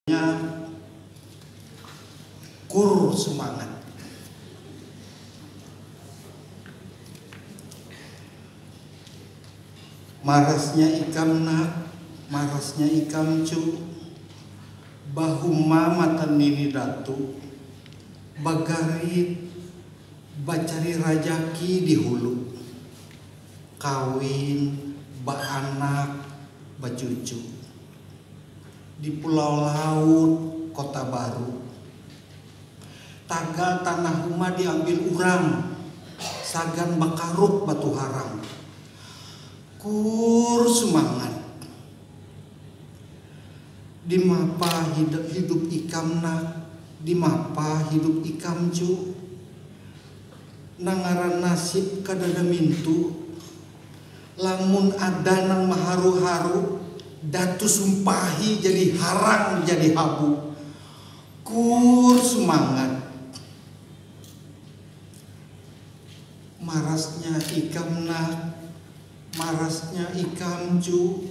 Akhirnya kur sumangat. Marasnya ikam nak, marasnya ikam cu, bahuma matan nini datu, bagarit, bacari rajaki di hulu, kawin, baanak, bacucu. di Pulau Laut, Kota Baru. Tagal tanah rumah diambil urang sagan bakaruk batuharang. Kur sumangat. Dimapa hidup ikam nak, dimapa hidup ikam cu. Nang ngaran nasib kadada mintu. Lamun ada nang maharu-haru, Datu Sumpahi jadi harang jadi habu. Kuur sumangat. Marasnya ikam nah, marasnya ikam cu.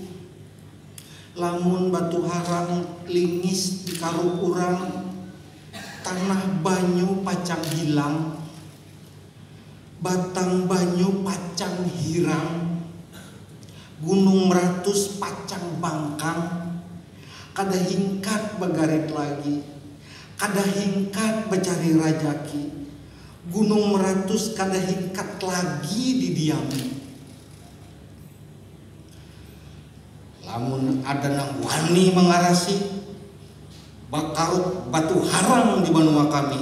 Lamun batu harang lingis di karuk urang, tanah banyu pacang hilang. Batang banyu pacang hirang, gunung meratus pacang bangkang, kada hingkat bagarit lagi, kada hingkat bacari rajaki, gunung meratus kada hingkat lagi didiami. Lamun ada nang wani mangarasi, bakaruk batu harang di banua kami.